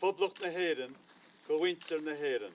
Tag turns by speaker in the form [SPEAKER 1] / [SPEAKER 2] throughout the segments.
[SPEAKER 1] Poblacht na hÉireann go mhuintir na hÉireann.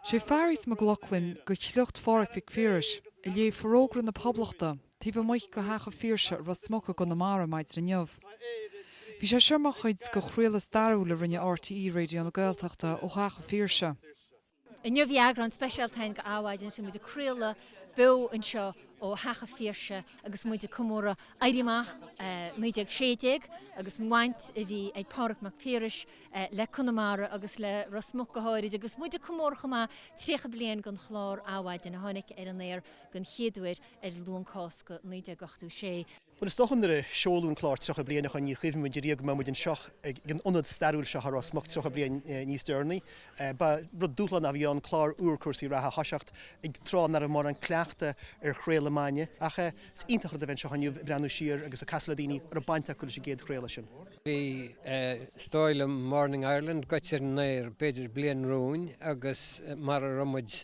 [SPEAKER 1] Sé Fearghas Mac Lochlainn go shliocht Phádhraic Mhic Phiarais a léigh Forógra na Poblachta taobh amuigh go theach a' Phiarsaigh i Rosmuc i gConamara maidin inniu. Tá Éire trí Bhí sé seo mar chuid de chraoladh stairiúil a rinne RTÉ Raidió na Gaeltachta ó theach a' Phiarsaigh. Inniu bhí eagrán speisialta againn go Adhmhaidin agus bhí muid ag craoladh beo anseo ó Theach an Phiarsaigh agus muid ag comóradh Éirí Amach 1916 agus an bhaint a bhí ag Pádraig Mac Piarais le Conamara agus le Ros Muc go háirid agus muid ag comóradh chomh maith 30 bliain den chlár Adhmhaidin a tháinig ar an aer den chéad uair ar Luan Cásca 1986. Bhuel, is dócha nuair a seoladh an clár 30 bliain ó shoin níor chuimhnigh muid riamh go mbeadh muid anseo ag an ionad stairiúil seo i Ros Muc 30 bliain níos deireanaí. Ba rud dúshlánach a bhí ann clár úr cúrsaí reatha a thoiseacht ag tráth ná raibh mórán cleachta ar chraoladh maidhne ach is iontach an rud é a bheith anseo inniu ag breathnú siar agus ag casadh le daoine a raibh baint acu leis an gcéad chraoladh sin. Bhí, is dóigh liom, Morning Ireland goite ar an aer b'fhéidir bliain romhainn agus mar a raibh muid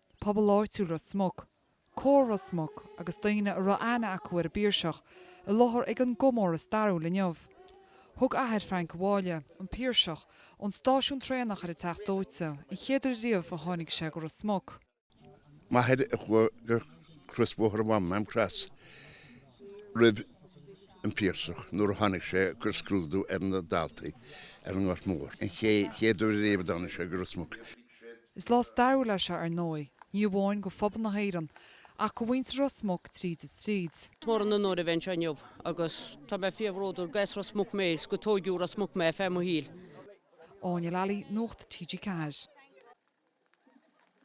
[SPEAKER 1] pobal áitiúil Ros Muc, Comhar Ros Muc agus daoine a raibh aithne acu ar an bPiarsach, i láthair ag an gcomóradh stairiúil inniu. Thug athair Frank abhaile, an Piarsach, ón stáisiún traenach ar an Teach Dóite an chéad uair riamh a tháinig sé go Ros Muc. M'athair a chuaigh go Crosbhóthar an Mháma, Maam Cross, roimh an bPiarsach nuair a tháinig sé ag cur scrúdú ar na daltaí ar an nGort Mór, an chéad uair riamh a dtáinig sé go Ros Muc. Is lá stairiúil é seo ar ndóigh, ní amháin go phobal na hÉireann, ach go mhuintir Ros Muc tríd is tríd. Is mór an onóir a bheith anseo inniu agus tá mé fíorbhródúil gur as Ros Muc mé is gur tóigeadh i Ros Muc mé ar feadh mo shaoil. Áine Lally, Nuacht TG4.